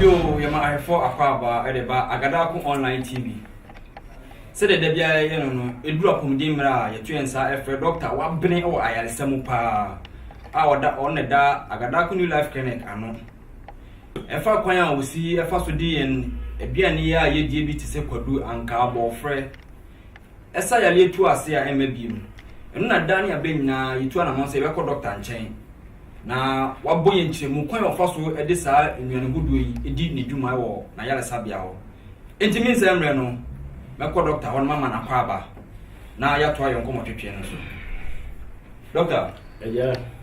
Yo, yɛ ma ahwɛfoɔ akwaabaa de ba Agadaako Online TV. Sɛdeɛ da biara yɛyɛ no no, ɛduru apɔmuden mmerɛ a yɛto yɛn nsa ɛfrɛ dɔkta wabene wɔ ayaresa mu paa a ɔda ɔno na ɛda Agadaako New Life Clinic ano. Ɛfa kwan a osi fa so de yɛn aduane yi a yedie bi te sɛ kwadu, ankaa, bɔɔfrɛ. Ɛsa yareɛ tu ase a ɛmma bio. Ɛno na daa ne abɛ nyinaa yetu anamɔn sɛ yɛbɛkɔ dɔkta nkyɛn. Na wabɔ yɛn nkyerɛmu kwan a ɔfa so de saa nnuane hodoɔ yi di ne dwuma wɔ n'ayaresabea hɔ. Enti me nsɛ mmerɛ no, mɛkɔ dɔkta hɔ na mama no akwaaba na yɛatoa yɛn nkɔmmɔtwetwe no so. Dɔkta. Agya.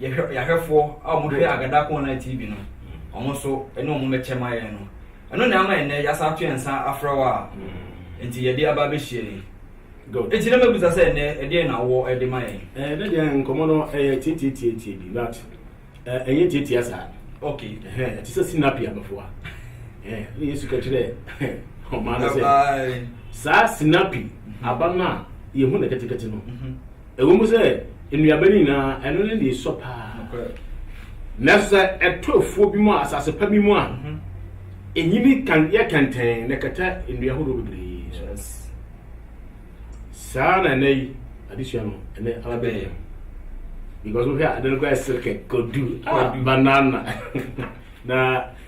yɛhwɛ yɛahwɛfoɔ a wɔhwɛ Agadaka Online TV no wɔn nso ɛne wɔn bɛkyɛ ma yɛn no ɛno na ama ɛnɛ yɛasa ato yɛn nsa afrɛ wɔ a nti yɛde aba abɛhyia yi nti na mabisa sɛ ɛnɛ ɛdeɛ na wɔ ɛde ma yɛn ɛɛ ne deɛ nkɔmɔ no ɛyɛ tietietietie bi but ɛyɛ tietia saa ok ɛhɛn ɛte sɛ sinapi abɛfoa ɛɛ ne yesu kɛkyerɛ ɔmaa no sɛ saa sinapi aba no a yɛhu no kɛtekɛte no Ɛwom sɛ nnuaba no nyinaa ɛno ne nea esua paa, nanso sɛ ɛtɔ afuo bi mu a, asase pa bi mu a, enyini kan yɛ kɛntɛn na ɛkata nnua horow bebree so. Saa na ɛnɛ yi adesua no ɛnɛ aba bɛyɛ yɛn. Because wohwɛ a ade no koraa ɛsere kɛkɛ, kodu, ah, banana. na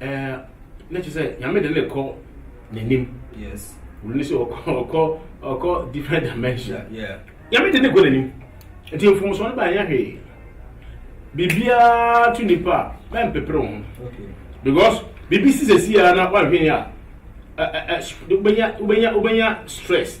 Eh, na kyerɛ sɛ nyame de ne kɔ n'anim yes wuli ne sɛ ɔkɔ ɔkɔ ɔkɔ different dimension yeah nyame de ne kɔ n'anim nti mfomsoɔ no baayɛ hwee biribiara to nipa a mɛmpepere wo ho okay because biribi si sɛ si a na woanhwɛ yi a ɛ- ɛ- ɛ- wobɛnya wobɛnya wobɛnya stress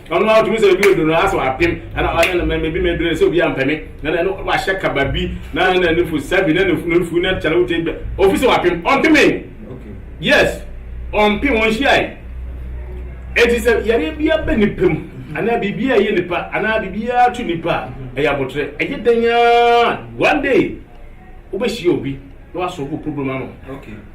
Ɔno ara ɔtumi sɛ ebi odu no aso apem ɛna ɔyɛ no mɛmɛ bi mɛdure sɛ obi ampɛ me na ɛno wahyɛ kaba bi na ɛna ne fo sɛbi na ne funu nfu na kyɛlɛ wote bɛ ofi sɛ wapem ɔmpeme yes ɔmpem ɔnhyia yi eti sɛ yɛre bi abɛ nipa mu anaa biribi a ɛyɛ nipa anaa biribi a ato nipa a ɛyɛ abotire ɛyɛ dɛn aa one day wobɛhyia obi na wasɔ wo problem ano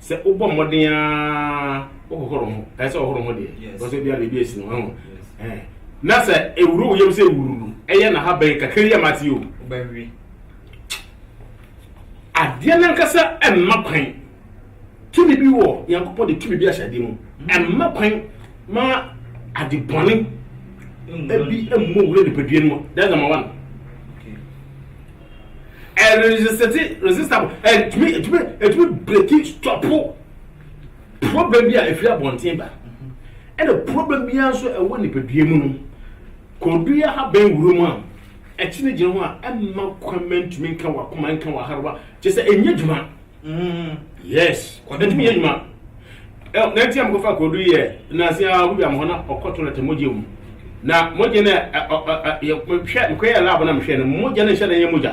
sɛ wobɔ mmɔden ara wohohoro ho ɛyɛ sɛ ɔhoro ho deɛ ɔsɛ bia biribi asi no ho na sɛ ɛwuro wo yam sɛ wururu ɛyɛ na ha bɛn kakra yi a mate o wobɛwe adeɛ no ankasa ɛmma kwan tumi bi wɔ nyankopɔn de tumi bi ahyɛ adeɛ mu mm. ɛmma kwan ma ade bɔne ɛbi mmɔ wura nipadua no mu that's number one ɛresesɛte resistable ɛtumi ɛtumi ɛtumi breki stɔpo problem bi a ɛfiri abɔnten ba ɛna problem biara nso ɛwɔ nipadua mu no kɔdua ha bɛn wuro mu a ɛkyene gyina ho a ɛmma kwan ma ntumi nka wakoma nka waharewa kyɛ sɛ ɛnyɛ dwuma yes ɔde tumi yɛ adwuma na nti a mokɔfa korodu yɛ nanse a wodwam hɔ na ɔkɔto no te mogya mu na mogya no hwɛ mekɔyɛ lab na mehwɛ no mogya no nhyɛ na ɛyɛ mogya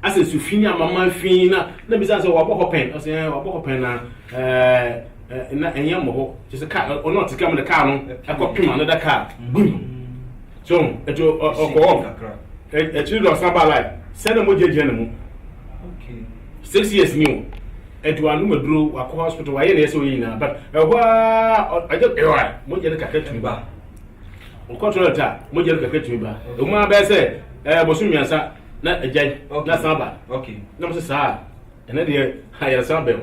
asɛ sufi ne amama fi na na bisa sɛ wabɔ hɔ pɛn ɔsɛ wabɔ hɔ pɛn na na ɛnyɛ mmɔbɔ kyɛ sɛ kaa ɔno ɔte kaa mu de kaa no ɛkɔ pem ano da kaa gbim so ɛti ɔkɔɔ ɛkyiri dɔ ɔsan baa lai sɛ na mo gyinagyina ne mu six years ni o ɛti wa anum aduro wakɔ hospital wayɛ na ɛsɛ oyi nyinaa but ɛhɔ aa ɔgye ɛwɔ mo gyɛ ne kakra tumi ba ɔkɔ tɔlɛt a mo gyɛ ne kakra tumi ba emu abɛɛ sɛ ɛɛ bosom mmiɛnsa na ɛgya na san ba na mo sɛ saa ɛnɛ deɛ ayɛrɛsan bɛn o.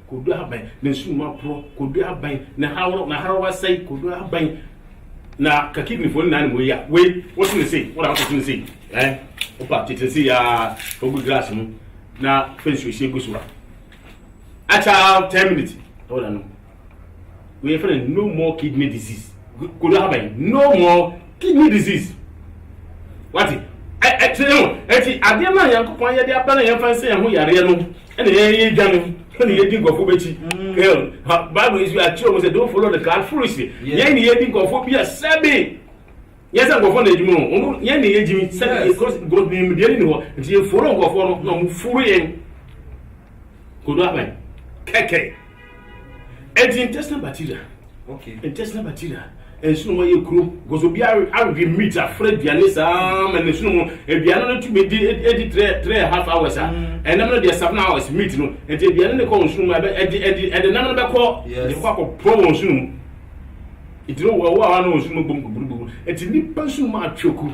Kodu abɛn na sum mu aporɔ? Kodu abɛn na haworo na haraw asɛe? Kodu abɛn na ka kidneyfoɔ nyinaa ne mu yi a wei wote ne sei wona wote ne sei ɛ wopa tete ne sei yaa ogu glass mu na fɛ nsuo sie gu so a akyɛ 10 minutes ɛwɔ na nom wei yɛfɛ no no more kidney disease Kodu ha bɛn? No more kidney disease. Wate? Ɛte no. Ɛti adeɛ no a Nyankopɔn yɛde aba no yɛmfa nsɛ yɛn ho yareɛ no ɛna yɛyɛ dwa no ɛna yɛdi nkurɔfoɔ bɛkyi. Mm. Bible nso akyerɛ mu sɛ don't follow the crowd foolishly. Yɛn ne yɛdi nkurɔfoɔ bi a sɛbe yɛn sɛ nkurɔfoɔ na ɛgyimi no ɔno yɛn ne yɛgyimi sɛbe because God nim deɛ ne ne hɔ nti yɛfollow nkurɔfoɔ no na ɔmo furu yɛn. Kodo abɛn kɛkɛ. ɛnti intestinal bacteria okay intestinal bacteria ɛnso na wɔyɛ kuro gɔsɔ bi awe meat afra aduane saa ma ne nso mu aduane no tumi di edi three three and a half hours a mm. ɛnam no deɛ seven hours meat no ɛnti aduane no kɔ wɔn sunu mu ɛbɛ ɛdi ɛdi ɛde nam no bɛkɔ ɛde kɔ akɔ pɔ wɔn sunu mu ɛti no wɔwɔ a wɔn sunu mu bom gbugburu gbugburu ɛti nipa sunu mu atwɛ kuro.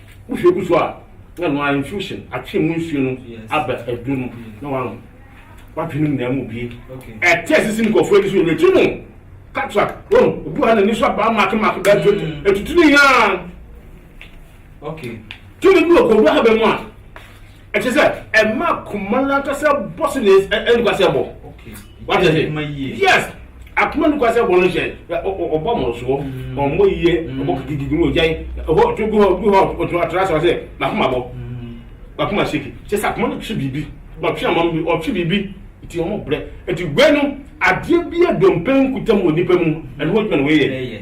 Wohwɛ gu so a, na ɛno ara infusion, atwe mu nsuo no aba aduro no na wanom. W'adwene mu nyinaa mu bue. Ɛte ɛse sɛ nkurɔfoɔ ani so yɛ n'akyi no. Cataract, wɔn, obi wɔ ha n'ani so abaa maake maake bɛɛ so ɛtutu ne nyinaa. Tumi bi wɔ kɔwura ha bɛ mu a. ɛkyɛ sɛ ɛma akoma no ankasa bɔ so ne nkwasɛ bɔ wate ase yes akoma no kwasɛ bɔ no hyɛ ɔbɔ mmorosoɔ mm. ɔmmɔ yie mm. ɔbɔ gidigidi no ɔgyae ɛhɔ to bi hɔ bi hɔ ɔtena ɔtena sɛ sɛ makoma bɔ mm. makoma seki kyɛ sɛ akoma no twe biribi ɔtwe ama bi ɔtwe biribi nti ɔmo brɛ nti wei no adeɛ bi a dompe nkutam wɔ nipa mu ɛno hɔ adwuma na wɔyɛ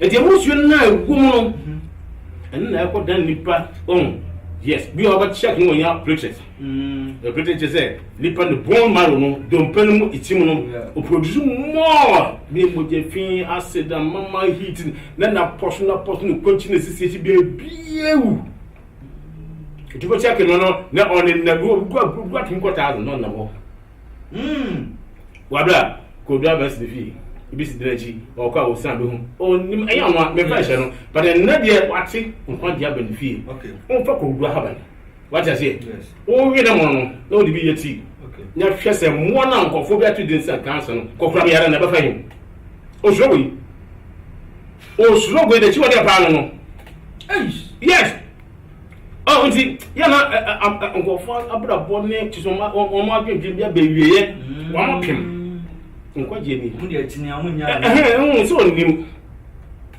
Eti emu nsuo no na ɛwɔ mu no ɛno na ɛkɔ dan nipa ɔn yes bi a ɔbɛ check no wɔn nya platelet mm. platelet kyɛ sɛ nipa ne bone marrow no dompe no mu eti mu no o produce more ne mogya fi acid amama heat na na pɔso na pɔso ne kɔnkyi na sisi esi bia ebiewu etu bɛ check no no na ɔne na bi wɔ bi wɔ bi wɔ atum kɔ taazin na ɔnam hɔ. Hmm. Wabra, Kodu Abɛs ne fie. Ebi si dɛn akyi, ɔɔkɔ a ɔsan bɛhu. Ɔnnim, ɛyɛ ɔno a, mefa nhyɛ no. But ɛnnɛ deɛ, wate nkwagye aba ne fie. Okay. Womfa Kodu ahaban. Wate aseɛ? Yes. Wowe ne mono no, na wode bi yɛ tea. Okay. Na hwɛ sɛ mmoa no a nkurɔfoɔ bi ato din sɛ cancer no, kɔkora me yare na ɛbɛfa yi. Osuro wei. Osuro wei, n'akyiwadeɛ paa no no. Eish. Yes. Nti, yɛ na nkurɔfo abrabɔ ne nso wɔn adwendwen bi abɛ wieɛ wɔn apem nkwagyeɛ ni ɛhɛn sɛ ɔnim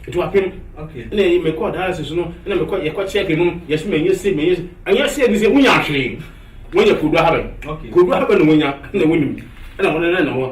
nti wapem ɛna ɛyi mekɔ dialysis no ɛna mekɔ yɛkɔ kyɛk no yɛsɛ mɛnyɛ se mɛnyɛ se ɛnyɛ se ɛdi sɛ wonya ahwee wɔnyɛ kodu ahabɛ kodu ahabɛ na wɔnya ɛna wɔnim ɛna wɔn ɛna ɛna wɔn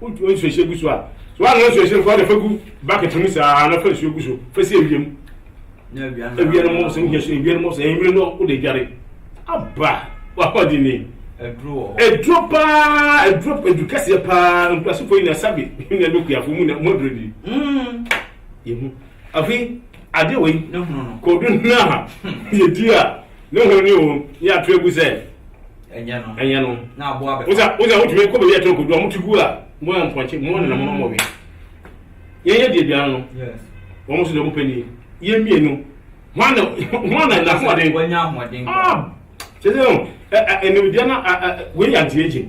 Wo wo nsuo hyɛ gu so a, so woanoa nsuo hyɛ no fa de fa gu bucket mu saa na fa nsuo gu so fa si awia mu. Na awia no awia no mmɔ sɛ wohia so awia no mmɔ sɛ ɛnwere no wo de dware. Aba wakɔ di ni. Aduro wɔ hɔ. Aduro paa aduro aduro kɛseɛ paa nkurasofoɔ yi na sabi na ɛbɛ kuafo mu na mu aduro di. Mm. Yehu. Afei adeɛ wɔ yi. Ne hono no. Kɔdu no a yɛdi a. Ne ho ni o, ne yɛato agu sɛ ɛnyɛ no. Wo sɛ wotumi kɔ baabi a ɛtɔ kɔdu a moto gu a mo yɛ mpɔnkye, mo nenam no mɔwe. Yɛnyɛ deɛ biara no, wɔn nso deɛ wɔpɛ ni. Yɛn mmienu, hwan na hwan na na ahoɔden? Wɔnya ahoɔden. Ah, kyerɛ sɛ ɛnimdeɛ na wei yɛ anti-aging.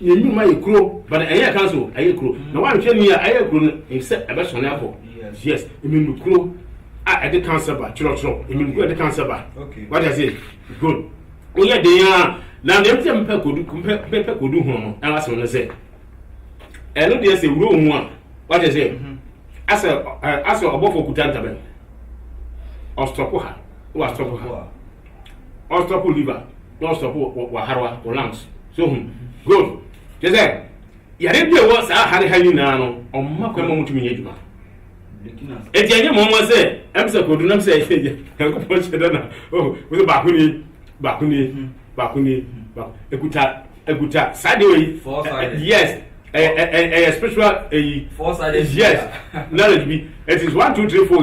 Yɛn nnwuma yɛ kuro but ɛnyɛ council ɛyɛ kuro na wanhwɛ ni a ɛyɛ kuro no sɛ ɛbɛsɔne akɔ yes mmenu kuro a ɛde council ba twerɛtwerɛ mmenu kuro a ɛde council ba wate ase good woyɛ den a na deɛ mpɛ mpɛ kodu mpɛ mpɛ kodu ho no ɛna asɛm no sɛ ɛno deɛ sɛ wuro ho a wate ase asɛ asɛ ɔbɔfo kuta ntabɛn ɔstɔpo ha wɔ astɔpo ha ɔstop wo liver na ɔstop wo waharewa wo lungs so hu good kyɛ sɛ yare bi a ɛwɔ saa hare ha nyinaa no ɔmma kwan ma motumi nyɛ adwuma ɛti ɛnyɛ mɔmɔ sɛ ɛm sɛ kodu nam sɛ nyankopɔn hyɛ dɛ na oh, wo sɛ baako ni baako ni hmm. baako ni hmm. ɛkuta ɛkuta saa deɛ yi yes ɛyɛ spiritual ɛyi yes knowledge bi it is one two three four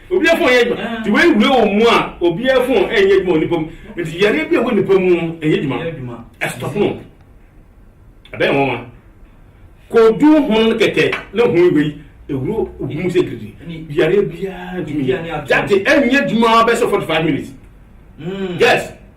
Obiara fon nyɛ adwuma nti wei wura wɔ mu a obiara fon nyɛ adwuma wɔ nipa mu nti yareɛ bi a ɛwɔ nipa mu no nyɛ adwuma ɛstɔpo no ɛbɛyɛ nwanwa kodu hono no kɛkɛ na ho wei ɛwuro obi mu sɛ giridi yareɛ biara ntumi yɛ date ɛnyɛ adwuma bɛsɛ 45 minutes yes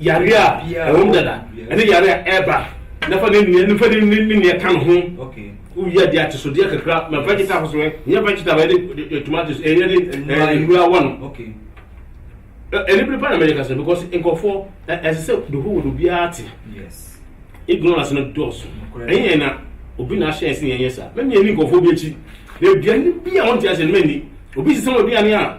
Yare a ɛwom dada ne yare a ɛba na fa ne nea ne fa ne ne nea ka ne ho. Wowie adeɛ atesodeɛ kakra ma vegetable so nyɛ vegetable ɛde tomatoes ɛyɛ de nnura wɔ no. Ɛnibere pa na mɛyɛ kasa because nkɔfoɔ ɛsɛ sɛ the whole world obiara te. Ignorance no dɔɔso. Ɛyɛ na obi na ahyɛ ɛsɛ yɛn yɛ saa. Mɛmi ɛni nkɔfoɔ bi akyi. Aduane bi a wɔn ti ahyɛ no mɛni. Obi sisɛ wɔn aduane a.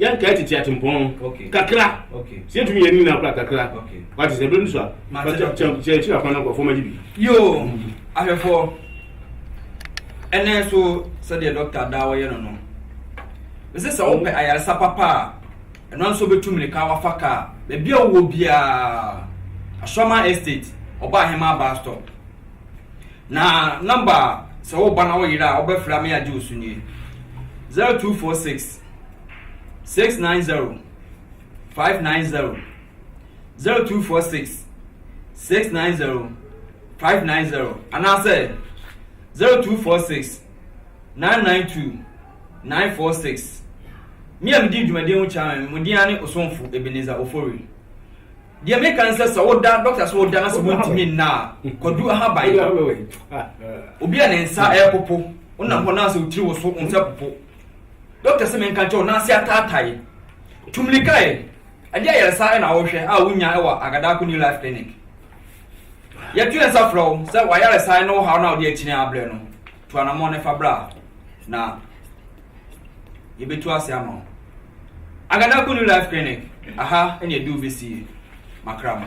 yɛn nkae tete atempɔn kakra sɛ yɛtumi yɛ ne nyinaa kora kakra wate sɛ bɛnu so a kyɛ akyiri akwan no nkurɔfoɔ magye bi yoo mm. ahwɛfoɔ ɛnɛ so sɛdeɛ dɔkta daa wɔyɛ no no ɛsɛ sɛ wopɛ mm. ayaresa papa a ɛno nso bɛtu mmirika wafa kaa baabi a wowɔ biara asɔma estate ɔba ahema baa stop na namba sɛ woba na woyera a wobɛfrɛ me agye wo so nie 0246 six nine zero five nine zero zero two four six six nine zero five nine zero anaasɛ zero two four six nine nine two nine four six me a medi dwumadie ho kyerɛ me mo din ne osomfo ebeneza ofori deɛ meka ne sɛ sɛ woda dɔkta so woda na sɛ wontumi nna a kwadu ahaban obi a ne nsa ɛpopo wonam hɔ na sɛ wotiri wo so wo nsa popo Doctor se menka nkyerɛ wo, n'ase ataatae. Tu mmirika ɛ, ɛdeɛ ayaresa na wohwɛ a wonya wɔ Agadaako New Life Clinic. Yɛto yɛn nsa frɛ wo sɛ w'ayaresa ne wo haw no a wode akyini abrɛ no, tu anammɔn na fa bra na yɛbɛtu ase ama wo. Agadaako New Life Clinic, aha na yɛde wo bɛsi makramo.